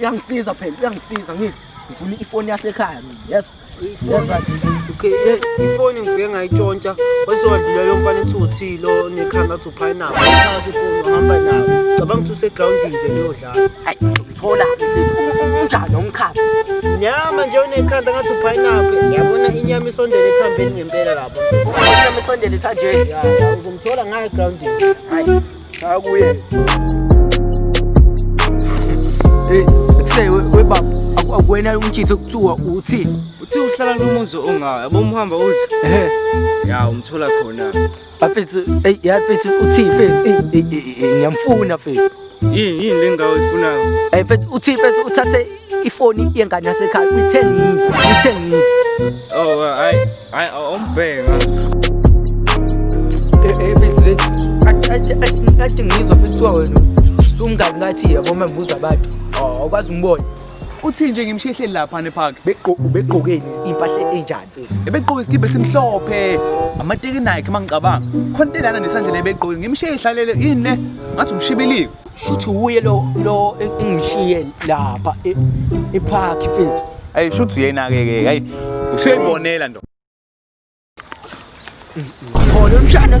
uyangisiza phela uyangisiza ngithi ngifuna ifoni yasekhaya mina yes okay ifoni ngifike ngayitshontsha wasewadlula lo mfana ethi uthilo nekhanda athi uphayinabo uthatha ifoni wahamba nayo cabanga ukuthi usegroundini nje liyodlala hayi ngithola unjani umkhazi nyama nje unekhanda ngathi uphayinabo yabona inyama isondele ethambeni ngempela lapho inyama isondele ethanjeni uzomthola ngayo egroundini hayi Cha kuye. Hey, say we we baba akuwena umtshitho kuthiwa uthi uthi uhlala nomuzi ongayo yabo umhamba uthi ehe ya umthola khona afethu hey ya fethu uthi fethu ngiyamfuna fethu yini yini lengawo ifunayo hey fethu uthi fethu uthathe ifoni yengane yasekhaya uyithengile uyithengile oh hayi Ay, oh, bang. ebizit kade ngizwa kuthiwa wena sumngani ngathi yebo ma ngibuza abantu awukwazi umbona uthini nje ngimshehleli lapha nepark ubegqokeni impahla enjani mfethu ebegqoke isikibha esimhlophe amateki nike uma ngicabanga khona into elana nesandla lebegqoke ngimsheyi ihlalele yini le ngathi umshibilike shuthi wuye lo lo engishiye lapha e, epark mfethu ayi shuthi uyena ke ke hayi usuyibonela ndoda Ngithola umshana